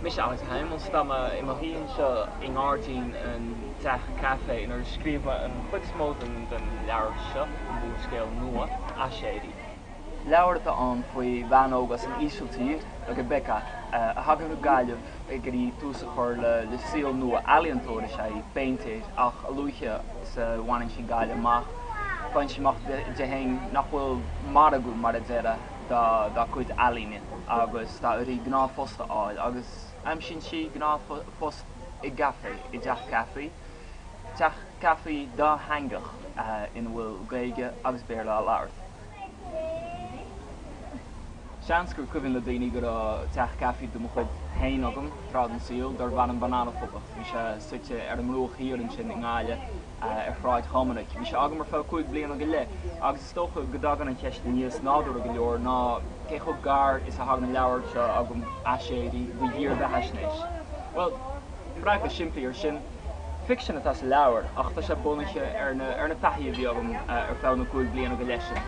Mise Alex Hijmans, tá mé i mo shuí anseo i ngairdín an teach caife inar scríobh mé an chuid is mó den leabhar seo, m'úrscéal nua, Aiséirí. Leabhar atá ann faoi bhean óg as an Ísiltír, Rebekka, a thagann go Gaillimh ag iarraidh tús a chur le saol nua. Ealaíontóir is ea í, péintéir, ach a luaithe is a bhaineann sí Gaillimh amach, faigheann sí amach di féin nach bhfuil margadh, mar a déarfá. dá cuid ealaíne agus tá uirthi gnáthphost a fháil agus aimsíonn sí gnáthphost i gcaife, i dteach caife, teach caife dátheangach ina bhfuil Gaeilge agus Béarla á labhairt. Seans gur cuimhin le daoine go raibh teach caife de mo chuid féin agam tráth den saol darbh ainm Bananaphoblacht. Bhí sé suite ar an mbruach thiar ansin i nGaillimh. ar Shráid Dhoiminic. Bhí sé agam ar feadh cúig bliana go leith agus is dócha go dtagann an cheist aníos nádúrtha go leor ná cé chomh gar is a thagann an leabhar seo agam, Aiséirí, do dhírbheathaisnéis. Bhuel, freagra simplí ar sin, ficsean atá sa leabhar ach tá sé bunaithe ar na taithí a bhí agam ar feadh na gcúig bliana go leith sin.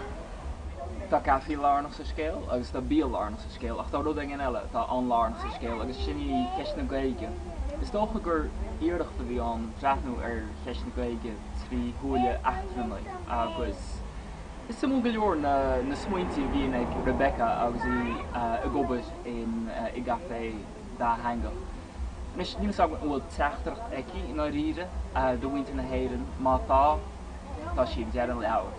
Tá caife lárnach sa scéal agus tá bia lárnach sa scéal ach tá rud éigin eile atá an-lárnach sa scéal agus sin í ceist na Gaeilge. Is dócha gur iarracht a bhí ann breathnú ar cheist na Gaeilge trí shúile eachtrannaigh agus is suimiúil go leor na smaointe a bhíonn ag Rebekka agus í ag obair i gcaifé dátheangach. Anois, níl 'fhios agam an bhfuil teachtaireacht aici i ndáiríre do mhuintir na hÉireann, má tá, tá sí ag deireadh an leabhair.